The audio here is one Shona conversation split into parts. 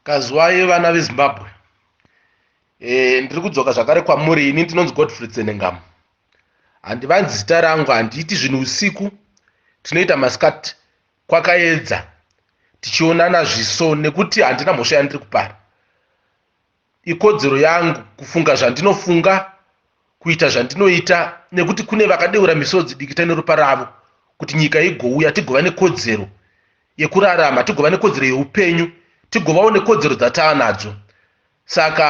Kazwai vana veZimbabwe. Eh, ndiri kudzoka zvakare kwamuri ini ndinonzi Godfrey Tsenengamu. Handivanzi zita rangu handiiti zvinhu usiku tinoita masikati kwakaedza tichionana zviso nekuti handina mhosva yandiri kupara. Ikodzero yangu kufunga zvandinofunga, kuita zvandinoita nekuti kune vakadeura misodzi dikita neropa ravo kuti nyika igouya tigova nekodzero yekurarama, tigova nekodzero yeupenyu, tigovawo nekodzero dzatava nadzo. Saka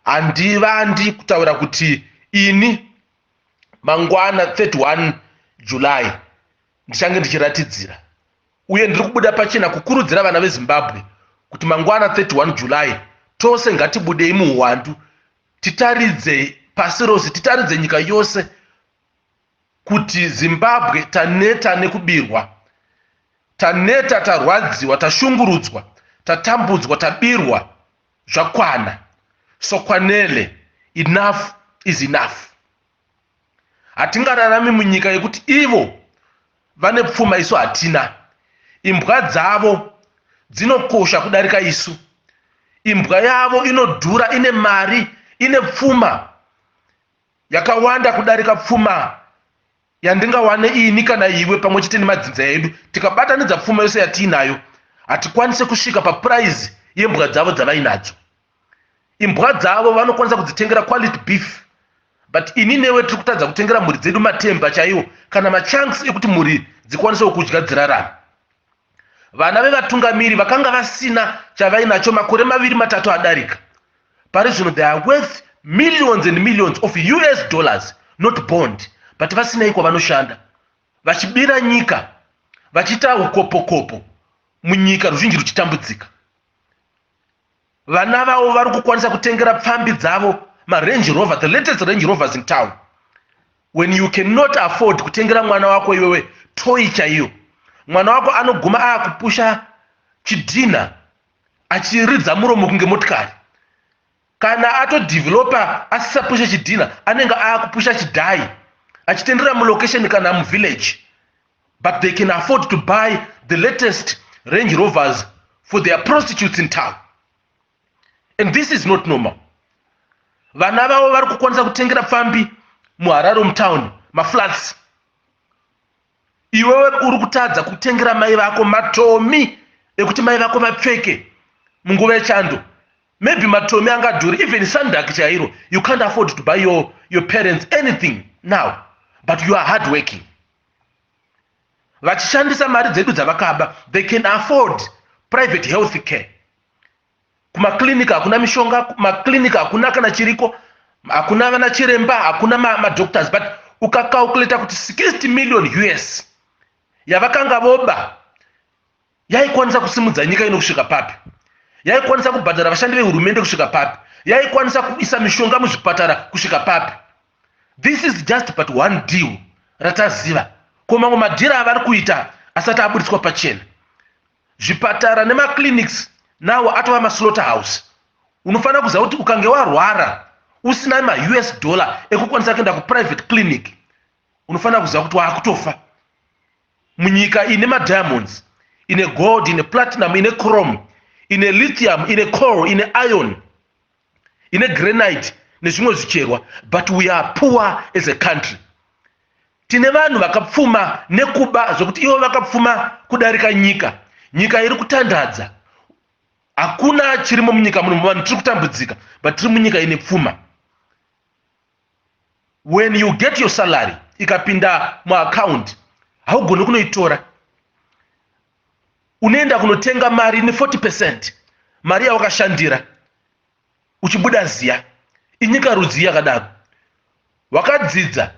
handivandi kutaura kuti ini mangwana 31 July ndichange ndichiratidzira uye ndiri kubuda pachena kukurudzira vana vezimbabwe kuti mangwana 31 july tose ngatibudei muhuwandu titaridze pasi rose titaridze nyika yose kuti zimbabwe taneta nekubirwa taneta tarwadziwa tashungurudzwa tatambudzwa tabirwa zvakwana sokwanele enough is enough hatingararami munyika yekuti ivo vane pfuma isu hatina imbwa dzavo dzinokosha kudarika isu imbwa yavo inodhura ine mari ine pfuma yakawanda kudarika pfuma yandingawane ini kana iwe pamwe chete nemadzinza edu tikabatanidza pfuma yose yatiinayo hatikwanise kusvika papuraizi yembwa dzavo dzavainadzo imbwa dzavo vanokwanisa kudzitengera quality beef but ini newe tiri kutadza kutengera mhuri dzedu matemba chaiwo kana machanks ekuti mhuri dzikwanisewo kudya dzirarama vana vevatungamiri vakanga vasina chavainacho makore maviri matatu adarika pari zvino they are worth millions and millions of us dollars not bond but vasinei kwavanoshanda vachibira nyika vachiita ukopokopo munyika ruzhinji ruchitambudzika vana vavo vari kukwanisa kutengera pfambi dzavo marange rover the latest range rovers in town when you cannot afford kutengera mwana wako iwewe toyi chaiyo mwana wako anoguma aakupusha chidhinha achiridza muromo kunge motikari kana atodevelopa asisapusha chidhinha anenge aakupusha chidhayi achitenderera mulocation kana muvillage but they can afford to buy the latest range rovers for their prostitutes in town and this is not normal vana vavo vari kukwanisa kutengera pfambi muharare mutown maflats iwewe uri kutadza kutengera mai vako matomi ekuti mai vako vapfeke munguva yechando maybe matomi angadhuri even sandak chairo you can't afford to buy your, your parents anything now but you are hard working vachishandisa mari dzedu dzavakaba they can afford private health care kumaclinic hakuna mishonga maclinic hakuna kana chiriko hakuna vana chiremba hakuna madoctors ma but ukacalculata kuti 60 million us yavakanga voba yaikwanisa kusimudza nyika ino kusvika papi yaikwanisa kubhadhara vashandi vehurumende kusvika papi yaikwanisa kuisa mishonga muzvipatara kusvika papi this is just but one deal rataziva ko mamwe madhira avari kuita asati aburitswa pachena zvipatara nemaclinics nawo atova maslaughter house unofanira kuziva kuti ukange warwara usina maus dollar ekukwanisa kuenda kuprivate clinic unofanira kuziva kuti waakutofa munyika ine madiamonds ine gold ine platinum ine chrome ine lithium ine coal ine iron ine granite nezvimwe zvicherwa but we are poor as a country tine vanhu vakapfuma nekuba zvekuti ivo vakapfuma kudarika nyika nyika iri kutandadza hakuna chirimo munyika muno vanhu tiri kutambudzika but tiri munyika ine pfuma when you get your salary ikapinda muaccount haugoni kunoitora unoenda kunotenga mari ne40 percent mari yawakashandira uchibuda ziya inyika rudzii yakadaro wakadzidza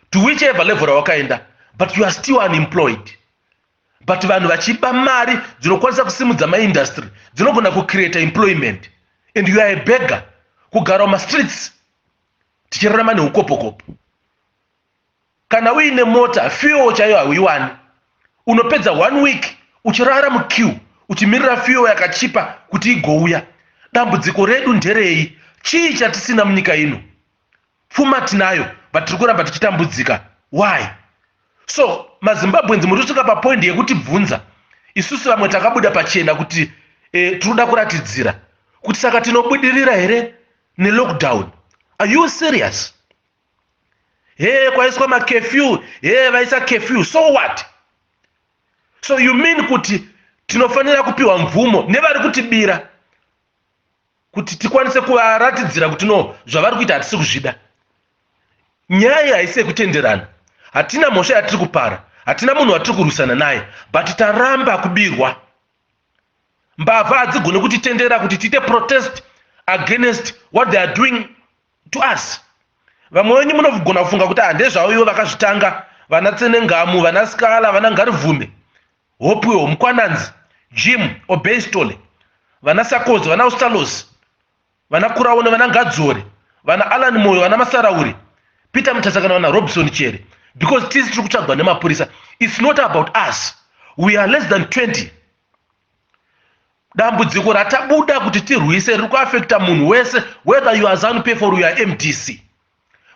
to whichever level rawakaenda but you are still unemployed but vanhu vachiba mari dzinokwanisa kusimudza maindustry dzinogona kucreata employment and you are a begger kugara mumastreets tichirarama neukopokopo kana uine mota fuel chaiyo hauiwani unopedza one week uchirara muqueue uchimirira fuel yakachipa kuti igouya dambudziko redu nderei chii chatisina munyika ino Pfuma tinayo but tiri kuramba tichitambudzika. Why? So maZimbabweans muri kusvika papoint yekuti bvunza isusu vamwe takabuda pachena kuti eh, tinoda kuratidzira kuti saka tinobudirira here nelockdown are you serious hee kwaiswa makefew hee vaisa kefew so what so you mean kuti tinofanira kupiwa mvumo nevari kutibira kuti tikwanise kuvaratidzira kuti no zvavari kuita hatisi kuzvida nyaya iyi haisi yekutenderana hatina mhosva yatiri kupara hatina munhu watiri kurwisana naye but taramba kubirwa mbavha hadzigone kutitendera kuti tiite protest against what they are doing to us vamwe wenyu munogona kufunga kuti handezvavo ah, ivo vakazvitanga vana tsenengamu vana skala vana ngarivhume Hopewell, Mkwananzi, Jim, Obeistole, vana Sakodzo, vana Ustalosi, vana Kuraone, vana Ngadzore, vana Alan Moyo, vana Masarauri, Peter Mutasa kana vana Robson Chere because tisi tiri kutsvagwa nemapurisa. It's not about us. We are less than 20. Dambudziko ratabuda kuti tirwise riri kuafekta munhu wese whether you are Zanu PF or you are MDC.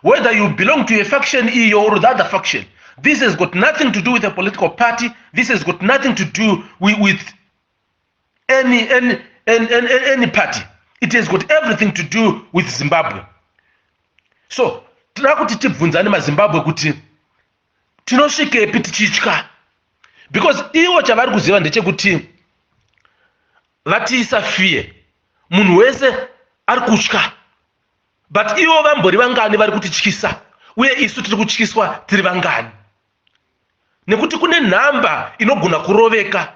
Whether you belong to a faction iyo or the other faction, this has got nothing to do with a political party, this has got nothing to do with, with any, any, any, any, any party. It has got everything to do with Zimbabwe. So, tinoda kuti tibvunzane mazimbabwe kuti tinosvikepi tichitya because ivo chavari kuziva ndechekuti vatiisa fear munhu wese ari kutya but ivo vambori vangani vari kutityisa uye isu tiri kutyiswa tiri vangani nekuti kune nhamba inogona kuroveka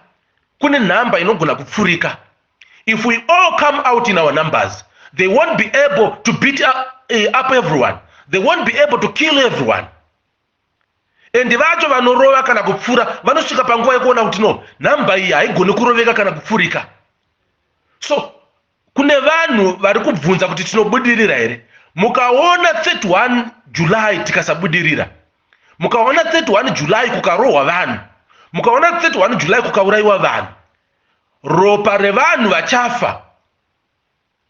kune nhamba inogona kupfurika if we all come out in our numbers they won't be able to beat up, eh, up everyone they won't be able to kill everyone endi vacho vanorova kana kupfura vanosvika panguva yekuona kuti no nhamba iyi haigoni kuroveka kana kupfurika so kune vanhu vari kubvunza kuti tinobudirira here mukaona 31 july tikasabudirira mukaona 31 july kukarohwa vanhu mukaona 31 july kukaurayiwa vanhu ropa revanhu vachafa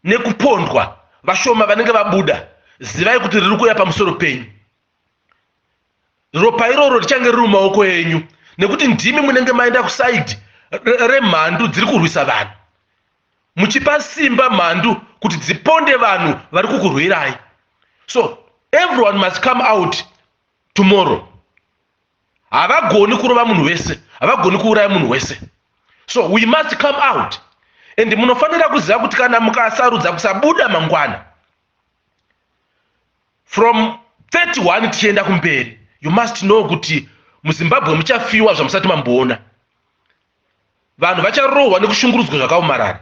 nekupondwa vashoma vanenge vabuda zivai kuti riri kuuya pamusoro penyu ropa iroro richange riri mumaoko enyu nekuti ndimi munenge maenda kusaidi remhandu dziri kurwisa vanhu muchipa simba mhandu kuti dziponde vanhu vari kukurwirai so everyone must come out tomorrow havagoni kurova munhu wese havagoni kuuraya munhu wese so we must come out and munofanira kuziva kuti kana mukasarudza kusabuda mangwana from 31 tichienda kumberi you must know kuti muzimbabwe muchafiwa zvamusati mamboona vanhu vacharohwa nekushungurudzwa zvakaomarara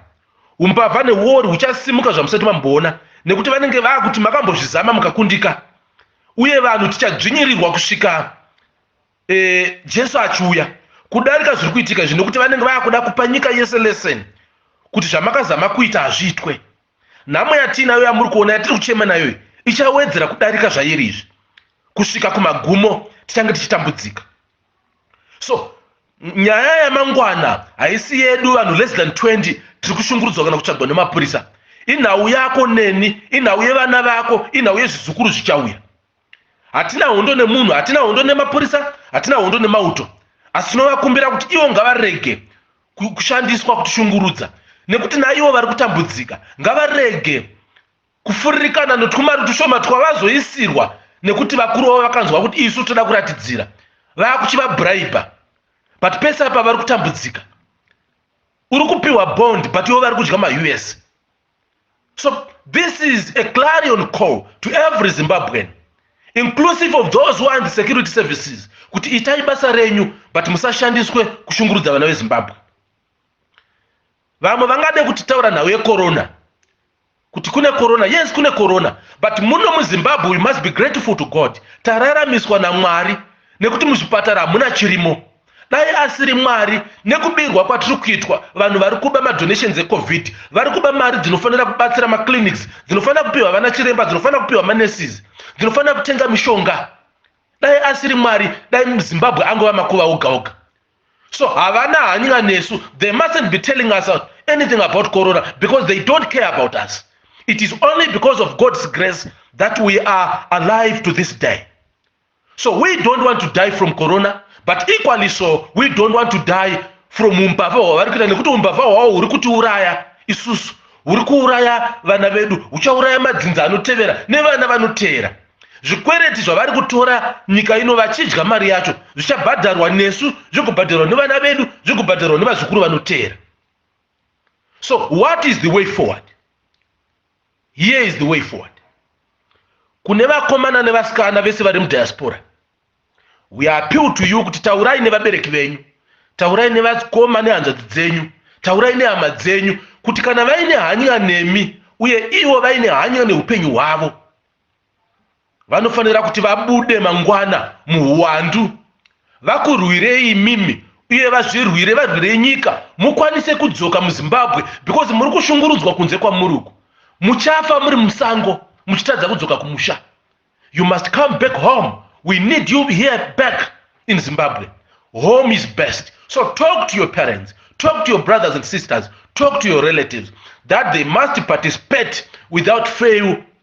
umbavha neuori huchasimuka zvamusati mamboona nekuti vanenge vakuti makambozvizama mukakundika uye vanhu tichadzvinyirirwa kusvika e, jesu achiuya kudarika zviri kuitika izvi nekuti vanenge vakuda kupa nyika yese lesson kuti zvamakazama kuita hazviitwe nhamo yatiinayo yamuri kuona yatiri kuchema nayoyi ichawedzera kudarika zvairi izvi kusvika kumagumo tichange tichitambudzika so nyaya yamangwana haisi yedu vanhu less than 20 tiri kushungurudzwa kana kutsvagwa nemapurisa inhau yako neni inhau yevana vako inhau yezvizukuru zvichauya hatina hondo nemunhu hatina hondo nemapurisa hatina hondo nemauto asi tinovakumbira kuti ivo ngavarege kushandiswa kutishungurudza nekuti naivo vari kutambudzika ngavarege kufuririkana netwumari tushoma twavazoisirwa nekuti vakuru vavo vakanzwa kuti isu toda kuratidzira vakuchivabhuraibha but pese apa vari kutambudzika uri kupiwa bond but ivo vari kudya maus so this is a clarion call to every zimbabwean inclusive of those who are in the security services kuti itai basa renyu but musashandiswe kushungurudza vana vezimbabwe vamwe vangade kutitaura nhau yecorona kuti kune corona yes kune corona but muno muzimbabwe we must be grateful to god tararamiswa namwari nekuti muzvipatara hamuna chirimo dai asiri mwari nekubirwa kwatiri kuitwa vanhu vari kuba madonations ecovid vari kuba mari dzinofanira kubatsira maclinics dzinofanira kupiwa vana chiremba dzinofanira kupiwa manesis dzinofanira kutenga mishonga dai asiri mwari dai muzimbabwe angova makuva oga oga so havana hanyira nesu they mustn't be telling us anything about corona because they don't care about us it is only because of god's grace that we are alive to this day so we don't want to die from corona but equally so we don't want to die from umbavha hwavari kuita nekuti umbavha hwavo huri kutiuraya isusu huri kuuraya vana vedu huchauraya madzinza anotevera nevana vanoteera zvikwereti zvavari kutora nyika ino vachidya mari yacho zvichabhadharwa nesu zvigobhadharwa nevana vedu zvigobhadharwa nevazukuru vanoteera so what is the way forward here is the way forward kune vakomana nevasikana vese vari mudiaspora we appeal to you kuti taurai nevabereki venyu taurai nevakoma nehanzvadzi dzenyu taurai nehama dzenyu kuti kana vaine hanya nemi uye ivo vaine hanya neupenyu hwavo vanofanira kuti vabude mangwana muhuwandu vakurwirei imimi uye vazvirwire varwire nyika mukwanise kudzoka muzimbabwe because muri kushungurudzwa kunze kwamuri uku muchafa muri musango muchitadza kudzoka kumusha you must come back home we need you here back in zimbabwe home is best so talk to your parents talk to your brothers and sisters talk to your relatives that they must participate without fail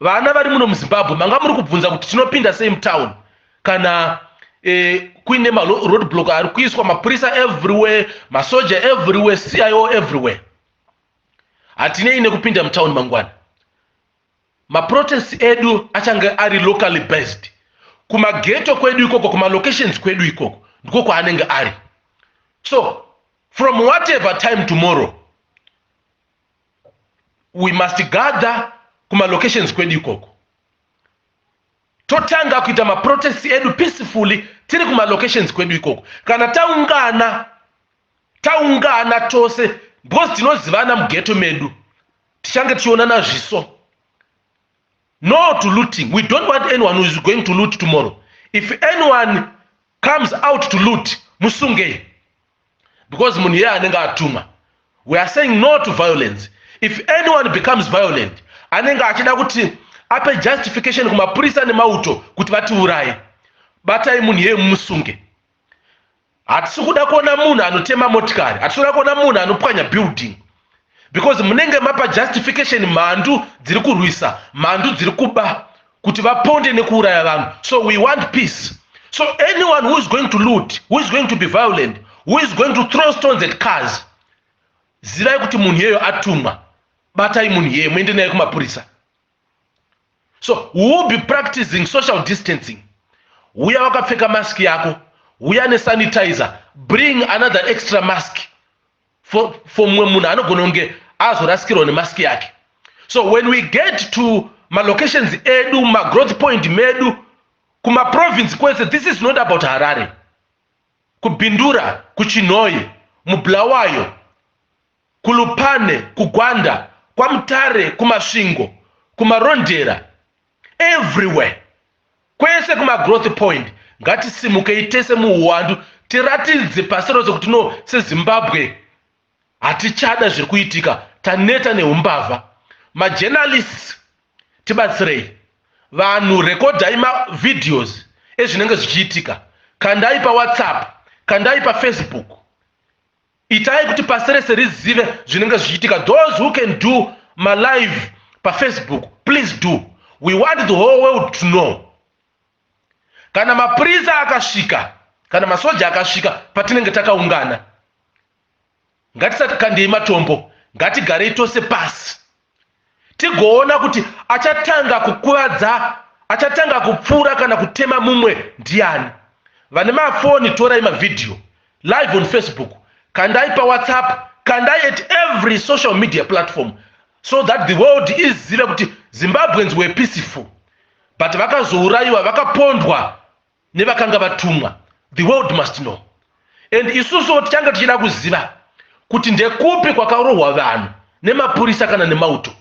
vana vari muno muzimbabwe manga muri kubvunza kuti tinopinda sei mutown kana eh, kuine maroad block ari kuiswa mapurisa everywhere masoja everywhere cio everywhere hatinei nekupinda mutown mangwana maprotest edu achange ari locally based kumageto kwedu ikoko kumalocations kwedu ikoko ndiko kwaanenge ari so from whatever time tomorrow we must gather kumalocations kwedu ikoko totanga kuita maprotest edu peacefully tiri kumalocations kwedu ikoko kana taungana taungana tose because tinozivana mugeto medu tichange tichionana zviso no to looting we don't want anyone who is going to loot tomorrow if anyone comes out to loot musungei because munhu iye anenge atumwa we are saying no to violence if anyone becomes violent anenge achida kuti ape justification kumapurisa nemauto kuti vatiuraye batai munhu iye mumusunge hatisi kuda kuona munhu anotema motikari hatisi kuda kuona munhu anopwanya building because munenge mapa justification mhandu dziri kurwisa mhandu dziri kuba kuti vaponde nekuuraya vanhu so we want peace so anyone who is going to loot who is going to be violent who is going to throw stones at cars zivai kuti munhu iyeyo atumwa batai munhu iyeye muende naye kumapurisa so we will be practicing social distancing huya wakapfeka mask yako huya nesanitizer bring another extra mask for, for mumwe munhu anogona kunge azorasikirwa nemask yake so when we get to malocations edu magrowth point medu kumaprovince kwese this is not about harare kubindura kuchinhoyi mubulawayo kulupane kugwanda kwamutare kumasvingo kumarondera everywhere kwese kumagrowth point ngatisimukei tese muuwandu tiratidze pasi rose kuti no sezimbabwe hatichada zviri kuitika taneta neumbavha majournalists tibatsirei vanhu rekodhai mavideos ezvinenge zvichiitika kandai pawhatsapp kandai pafacebook Itai kuti pasi rese rizive zvinenge zvichiitika. Those who can do malive pafacebook please do we want the whole world to know kana mapurisa akasvika kana masoja akasvika patinenge takaungana ngatisati kandei matombo ngatigarei tose pasi tigoona kuti achatanga kukuvadza achatanga kupfuura kana kutema mumwe ndiani vane mafoni torai mavhidhiyo live on facebook kandai pawhatsapp kandai at every social media platform so that the world izive kuti zimbabweans were peaceful but vakazourayiwa vakapondwa nevakanga vatumwa the world must know and isusuwo tichange tichida kuziva kuti ndekupi kwakarohwa vanhu nemapurisa kana nemauto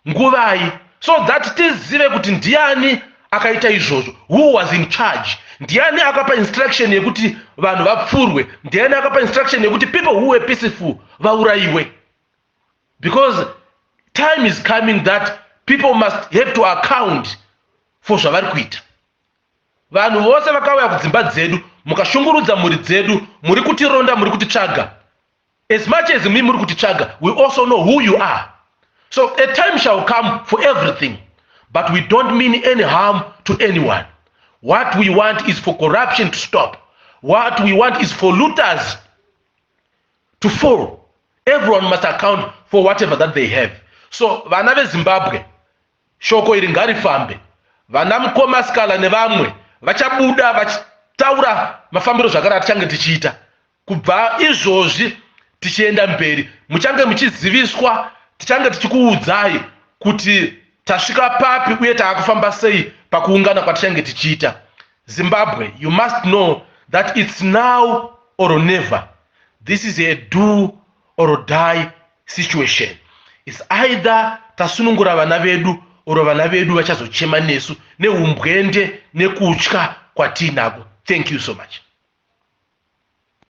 nguvai so that tizive kuti ndiani akaita izvozvo who was in charge ndiani akapa instruction yekuti vanhu vapfurwe ndiani akapa instruction yekuti people who were peaceful vaurayiwe because time is coming that people must have to account for zvavari kuita Vanhu vose vakauya kudzimba dzedu mukashungurudza mhuri dzedu, muri kutironda, muri kutitsvaga. As much as mi muri kutitsvaga, we also know who you are. So a time shall come for everything, but we don't mean any harm to anyone. What we want is for corruption to stop. What we want is for looters to fall. Everyone must account for whatever that they have. So vana veZimbabwe, Shoko iri ngarifambe. Vana mukoma Scala nevamwe vachabuda vachitaura mafambiro zvakare atichange tichiita kubva izvozvi tichienda mberi. Muchange muchiziviswa, tichange tichikuudzai kuti tasvika papi uye taakufamba sei pakuungana kwatichange tichiita. Zimbabwe, you must know that it's now or never. This is a do or die situation is either tasunungura vana vedu or vana vedu vachazochema nesu neumbwende nekutya kwatiinako thank you so much